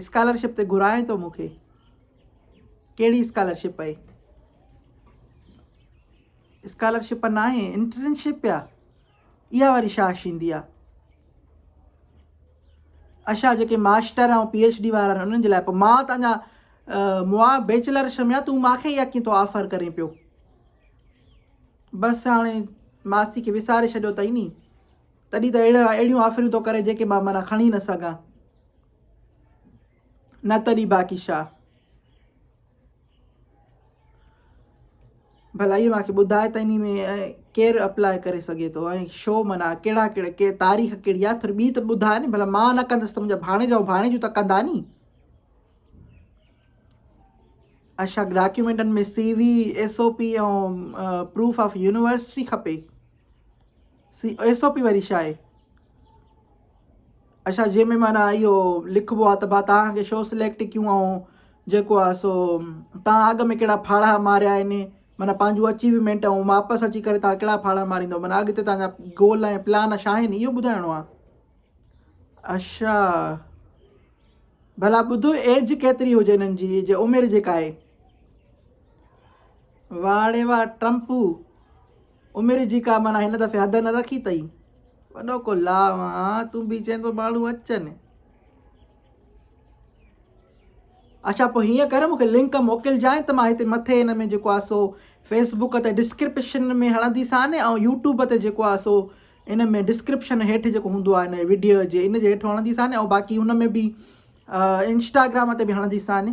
Scholarship تي گهرائين ٿو مون کي ڪهڙي اسڪالرشپ پئي اسڪالرشپ نه آهي انٽرنشپ آ اها واري شاهه شيندي آ اشا جيڪي ماسٽر آ پي ايچ ڊي وارا آهن انهن جي لاء پوء مان تنهنجا موا بيچلر شميا تون ماکي يا ڪي تو آفر ڪرين پيو بس هاڻي ماستي کي وساري ڇڏيو تئي ني تڏهن ته اهڙا اهڙيون آفريون ٿو ڪري جيڪي مان معنيٰ کڻي نه سگهان. نه تڏهن باقي شاهه. ڀلا اهو مانکي ٻڌاء ته انهي ۾ ڪير اپلاء ڪري سگهي ٿو ۽ شو معنيٰ ڪهڙا ڪهڙا ڪي تاريخ ڪهڙي آ ٿوري ٻي ته ٻڌاء ني ڀلا مان نه ڪندس ته منهنجا ڀاڻيجا ۽ ڀاڻيجيون ته ڪندا ني. اشاڪ ڊاڪيومينٽن ۾ C V S O P ۽ proof of university کپي. سي ايس او پي واري شاء اي اڇا جي ۾ معنی ايو لکبو آ ته ڀا تان کي شو سليڪٽ ڪيون آئون جيڪو آ سو تان اڳ ۾ ڪهڙا ڦاڙها ماريا آهن معنی پنهنجو اچيومينٽ ۽ واپس اچي ڪري تان ڪهڙا ڦاڙها ماريندو معنی اڳتي تان جا گول ۽ پلان ڇا آهن ايو ٻڌائڻو آ اڇا ڀلا ٻڌو ايج ڪيتري هجي انهن جي ايج عمر جيڪا آهي واڙي وا ٽرمپو عمر جي ڪا معنيٰ هن دفعي حد نه رکي تئي. وڏو ڪو لا وان تون به چين ٿو ماڻهو اچن. اڇا پوء هيئن ڪر مون کي لنڪ موڪلجانء ته مان هتي مٿي هن ۾ جيڪو آهي سو فيس بوڪ تي ڊسڪرپشن ۾ هڻندي سان ۽ يوٽيوب تي جيڪو آهي سو ان ۾ ڊسڪرپشن هيٺ جيڪو هوندو آهي هن ويڊيو جي ان جي هيٺ هڻندي سان ۽ باقي ان ۾ به انسٽاگرام تي به هڻندي سان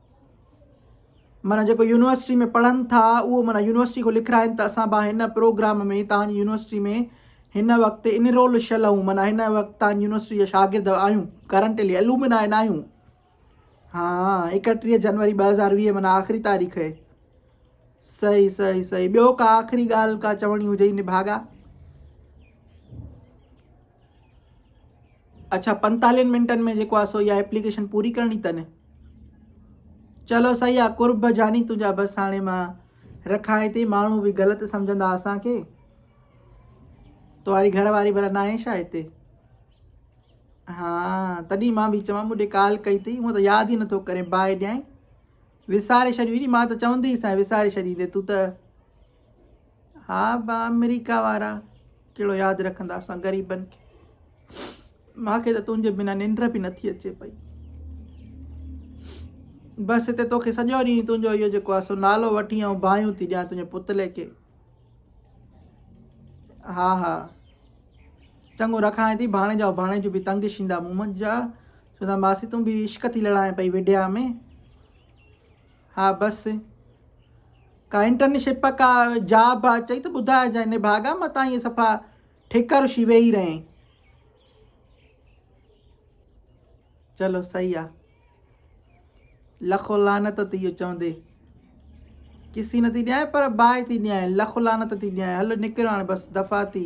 معنيٰ جيڪو يونيورسٽي ۾ پڙهن ٿا اهو معنيٰ يونيورسٽي کان لکرائين ته اسان به هن پروگرام ۾ تهان جي يونيورسٽي ۾ هن وقت انرول شل آهون معنيٰ هن وقت تهان جي يونيورسٽي جا شاگرد آهيون ڪرنٽلي الومنائي نه آهيون ها اڪٽيهه جنوري ٻه هزار ويهه معنيٰ آخري تاريخ هي صحيح صحيح صحيح ٻيو ڪا آخري ڳالهه ڪا چوڻي هجئي نڀاڳا اڇا پنتالهين منٽن ۾ جيڪو آ سو اها ايپليڪيشن پوري ڪرڻي تنهن چلو صحيح آ قرب جاني تنهنجا بس هاڻي مان رکان هتي ماڻهو به غلط سمجهندا اسانکي تاري گهر واري بھلا ناهي شا هتي ها تڏهن مان به چوان مون ڪال ڪئي اٿي مون ته ياد ئي نٿو ڪري باهه ڏيائين وساري ڇڏيو مان ته چوندي سان وساري ڇڏيندي تون ته ها با آمريڪا وارا ڪهڙو ياد رکندا اسان غريبن کي ماکي ته تنهنجي بنا ننڊ به نٿي اچي پئي بس هتي توکي سڄو ڏينهن تنهنجو اهو جيڪو آسو نالو وٺي ۽ بايون ٿي ڏيان تنهنجي پتلي کي ها ها چڱو رکائين ٿي ڀاڻي جا ڀاڻي جو به تنگ شيندا مون جا چوندا ماسي تون به عشق ٿي لڙائين پئي وڊيا ۾ ها بس ڪا انٽرنشپ ڪا جاب چئي ته ٻڌائجانء نڀاڳا مان تان ائين صفا ٺڪر شي ويهي رهين چلو صحيح آ لکو لعنت تي اهو چوندي کسي نه ٿي ڏيانء پر باهه ٿي ڏيانء لکو لعنت ٿي ڏيانء هل نڪر هاڻ بس دفعا ٿي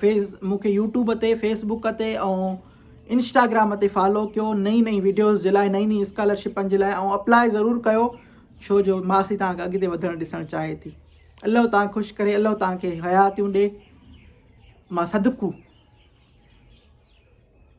فيس مون کي يوٽيوب تي فيس بوڪ تي ۽ انسٽاگرام تي فالو ڪيو نئين نئين ويڊيوز جي لاء نئين نئين اسڪالرشپن جي لاء ۽ اپلاء ضرور ڪيو ڇو جو ماسي تان اڳتي وڌڻ ڏسڻ چاهي ٿي الله تان خوش ڪري الله تان کي حياتيون ڏي مان صدقو